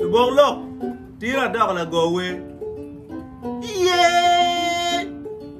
Lubok lok tira dok lago wer. Yeah!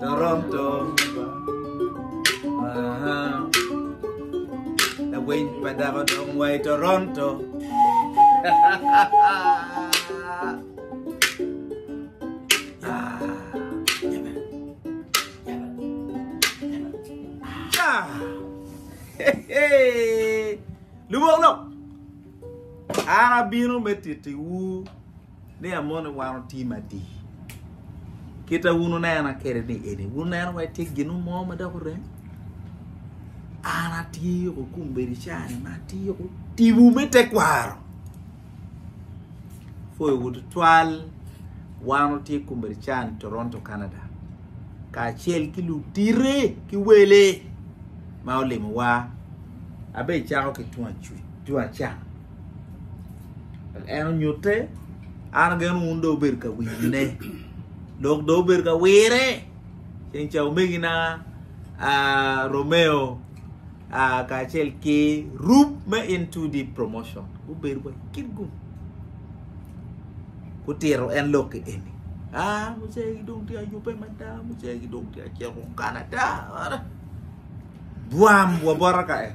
Toronto Lawiny pa dako dong wa i Toronto Lubok lok An abino me titiwu ni amoni wan otye madi kita wun wunena kede ni eni wun neno wai tye ginu mo ma dok orem an atye ko kum bedi cani ma atye ko tibu me tekwaro foyo wu tutwal wan otye kum bedi cani toronto canada kacel ki lutite ki wele ma olimo wa abe cako ki tung acuc tung acan En onyutte, an ageno wun do obedo ka winyone, dok do obedo ka wire. Ceng ca omegina Romeo kacel ki Rup me N2D Promotion gubedo wa kit gum. Gutito en lok ki eni. Ah, mucegi dong tye ayube mada, mucegi dong tye acito Canada. Bwam, wabota ka en.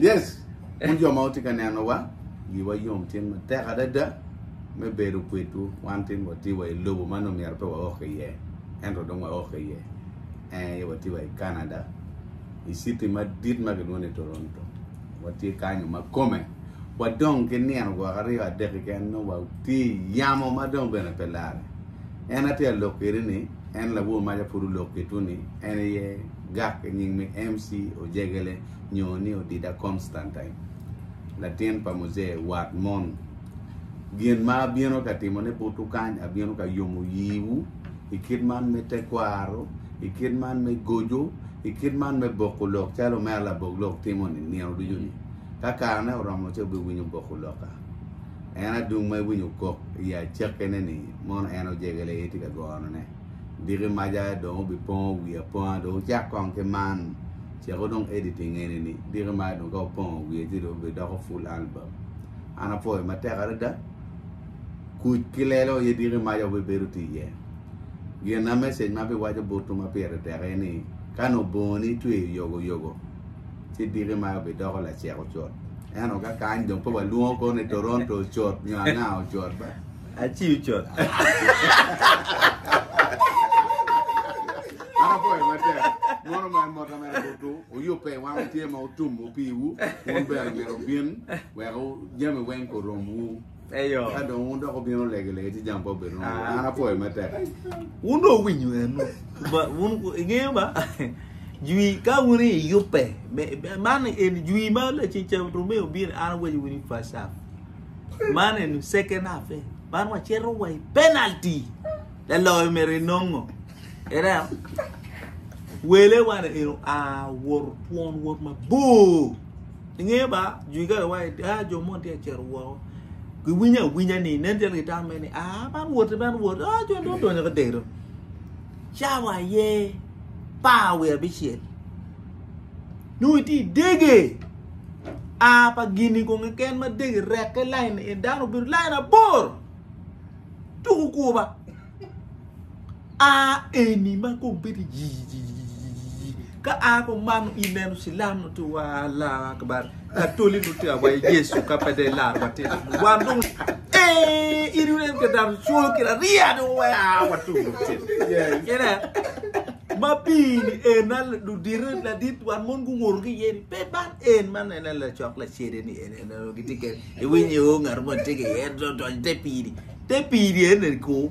Yes, wun jo ma wutye ka nenowa, wiwa yom cen matek adada me bedo kwedwu. Wan tin watye wa i lobo ma nongo myero pe waok iye, ento dong waok iye. Ee, watye wa i Canada, i citi madit ma kilwongo ni Toronto. Watye kanyo ma kome wadong ki nino gwok aryo adek keken nongo watye i yamo ma dong bene pe lare. En atye ka lok kwede ni en labwor mac apud olok kitwu ni en aye gak i nying me MC Ojegele nyo ni Odida Constantine, latin pa Muzee wat mon. Gin ma abino ka timone butwu kany abino ka yomo yiwu i kit man me tekwaro, i kit man me goco, i kit man me boko lok calo omera labok lok timo-ni nino ducu-ni. Ka karene oromo ci wubiwinyo boko lokka. En adung ma iwinyo kok i acakkene-ni, mono en ojegele aye tye ka gonone. Diki maca dong obipongo wi aponga, dong wacak kong ki man. Ceko dong editing eni-ni, diki maca dong ka wapongo wiye ci dong obidoko full album. An apwoyo matek adada. Kuc ki lelo aye diki maca wubibedo tye iye. Gina, message ma abiwaco botwu ma pire tek aye ni, Ka nongo bongoni itweyo yogoyogo, ci diki ma bidoko lacek ocut eno ka kany dong pe walwongo ko ni toronto ocut nyo anga ocut ba aci ocut an apoyo matek mono ma mota mere butu oyubbe wan otye ma otum opiwu wun bene myero obin wek jami weng koromwu Eyo. Ka dong wun dok obino lege lege ci jam pa obedo no. An apoyo me tek. Wun do winyo en. Ba wun ingeyo ba. Jwi ka wun i yupe. Man en jwi ma la ci cha rume obino an waj wun i first half. Man en second half. Eh. Man wa chero wa i penalty. La loyo mere nongo. Era wele wana eno a wor twon wor mabor. Ingeyo ba, jwi ga lawai, ah, jo mon tye ka cito woko. Giwinyo awinya ni, nen calo gitamme ni, ah, man woti, man woti, ah, jo dong donyo ka dero. Cawa aye par wiye abicel. Nung iti dege, a pa gini kong keken ma dege rekke lain, e dano obedo lain abor. Tuku kuba. A eni ma kong bedo yiyiyiyiyi ka a kong mano i neno cilam nut i wa Allah akbar ka toli nut i wa Yesu ka pe de lar wa tito nut wan dong e iri wun ka dano colo ki la ria dong wa wa tu nut tito kene ma pi ni en na du dire la dit wan mon gu woro ki yeni pe bar en man en la cok la cede ni en en en giti ke i winyi o ngar mo tike en do do te pi ni te pi ni en en ko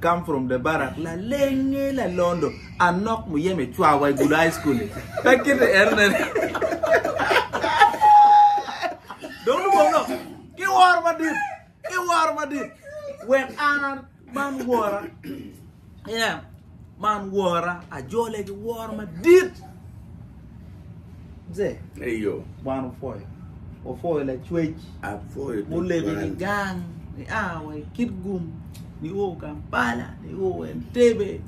come from the barak lalenge lalondo anok muyeme cwawa i gudo high school pe kiti erne dong lubong nok ki woro madit ki woro madit wek an man wora yeah Man wora, ajole ki woro madit. Mze, Eyo, Wan wupwoyo. Wapwoyo Lacwec apwoyo mulego tutwal. ki gang nia wa i Kitgum nio Kampala nio Entebbe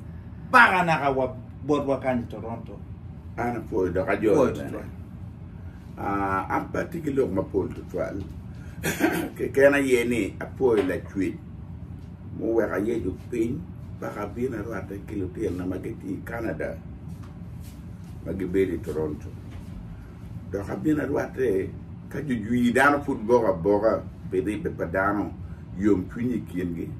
paka naka wa botwa kany i Toronto. An apwoyo dok Pwoyo ajolo bene. tutwal. Ah, an pe atye ki lok mapol tutwal. Keken aye ni apwoyo Lacwec. muweko ayeco piny dok abino arwatte ki lutinona ma gitye i Canada ma gibedo i Toronto. Dok abino arwatte ka jujwir dano pud boko aboka pi ribbe pa dano, yomcwiny i kingi.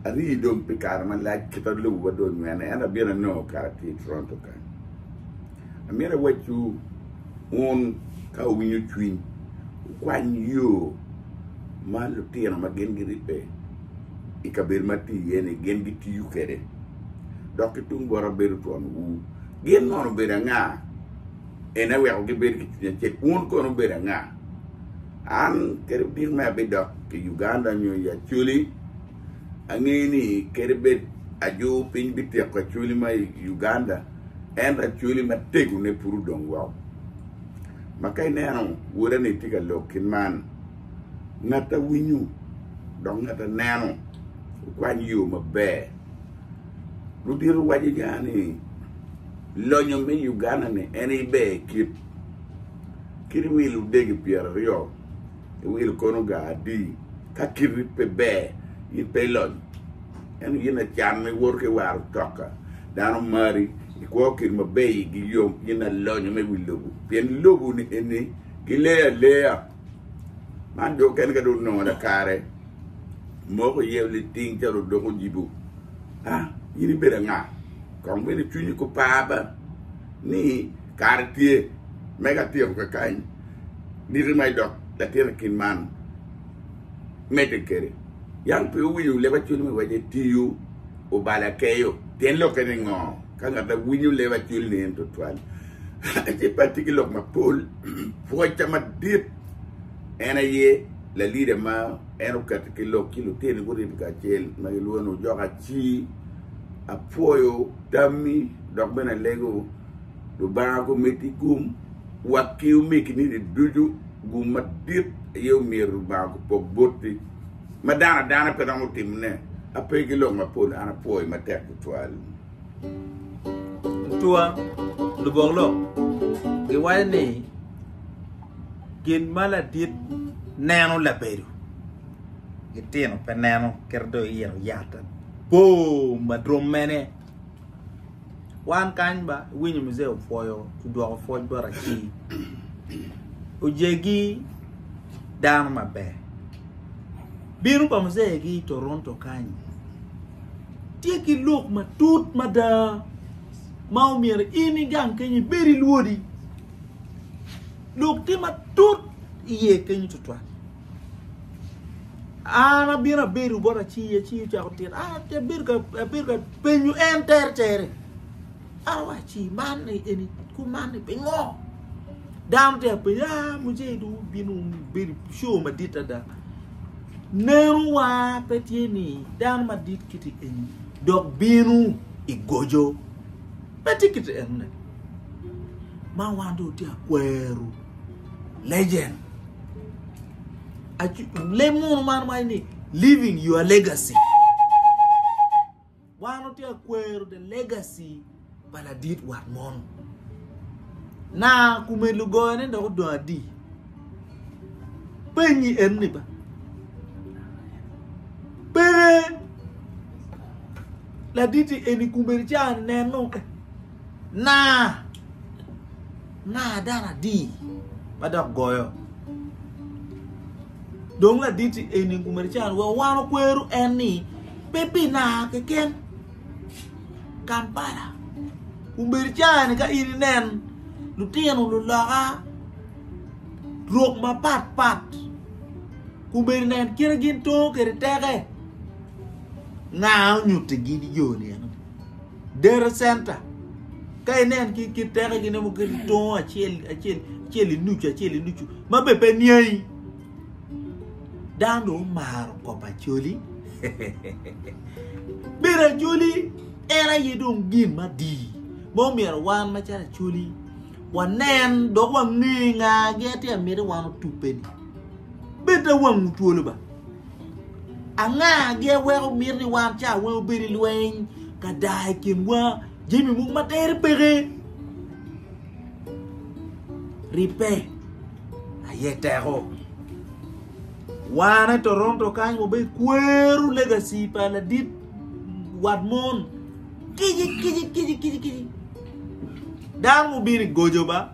Arii dong pi kare malac kit ma lobo dong onywene, ento abino anongo kare atye i Toronto kany. Amito awacciwu, wun ka wuwinyo cwiny, wukwany yo ma lutino ma gin giribbe i kabedo ma atye iye-ni gin gitiyo kwede, dok ki tung bota bedo twonwu. Gin mono obedo anga? En aye weko gibed ki cwiny acel. Wun kono wubedo anga? An kadi odik ma abidok i Uganda nyo i Acholi, angeyo ni kadi bed ajur piny bityeko Acholi ma i Uganda, Ento acweli matego ne pud odong woko. Ma ka ineno woda ni tye ka lok kit man, ngat a winyo dok ngat a neno okwany yo maber. Ludito waco ja ni lonyo me Uganda ni en iber kit kit wil odegi pyeraryo. iwilo kono ga adi ka kiti pe ber in pe ilonyo ento in lacan ma iwoto ka iwaro toka dano mari ikwo kit ma ber igi yom in alonyo me wi lobo pien lobo ni eni gileyo aleya man dong kene ka dong onongo lakare moko iye liting calo odoko ojibo a in ibedo anga kong bene cwinyi ko par ba ni Kare tye me ka tyeko kakany niti ma idok latin i kin man medde kede. Yam pe wuwinyo leb Acwiny me Wacce tiyo obalo akeyo. Tyen lokke ni ngo? Ka ngat a winyo leb Acwiny ni en tutwal ci pe atye ki lok mapol. Pwocca madit en aye lalida ma en oketo ki lok ci lutini guribe kacel ma gilwongo ni Ojok Aci. Apwoyo tammi dok bene alego. Lubanga ko miti gum wa ki omi kinidi ducu gum madit aye omyero Lubanga ko pok boti ma dano adana pe romo timo ne ape ki lok mapol an apwoyi matek tutwal. Tutwa lubok lok giwaco ni gin ma ladit neno labedo gitino pe neno kit do iyito yat abor ma dwom mene. Wan kany ba iwinyo Mzee opwoyo odwoko pwoc bot aci. Ojegi dano maber. Bino pa Mzee gi i Toronto kany. Tye ki lok matut mada ma omyero in igang keny ibed ilwodi. Lok tye matut iye keny tutwal. An abino abedo bot aci aci ocako tito an abedo ka abedo ka penyo en tere tere an wa aci man eni ku man ni pingo dano tye apenyo a ah, muje du bino bedo show madit ada neno wa pe tye ni dano madit kiti eni dok bino igojo Pe tye kit enone. Ma wan do tye akweru. Legend. Lem mono man waye ni living your legacy. Wan otye akweru the legacy pa ladit wat mono. Na kume lugoyone dok odong adi. Penyi enoni ba. Pere Laditi eni kumeni ci aneno ke na nga dano adi ma dok goyo. Dong laditi eni kumeni ci an weko wan okwero en ni pe pi na keken Kampala kumeni ci an ka in inen lutino luloka rok mapat pat kumeni nen kite gin to kede teke. Nga onyutti gidi jo ni eno? Dere center. Ka inen ki ki teke gine mo ki tongo acel acel acel inucu acel inucu ma be pe niai. Dan do maro kop acoli. Bira acoli en aye dong gin ma di. Mo mira wan ma cara acoli wanen dok wangi nga gi ati amiri wan otupeni. Beta wangu twolo ba. Anga gin weko mito ni wan ca weng obed i lweny ka daa i kinwa? Jami mogo ma tere peke. Ribbe aye teko. Wane Toronto kany wabedo kwero legacy pa ladit wat mon. Kici kici kici kici kici. Dano mubino i gojo ba.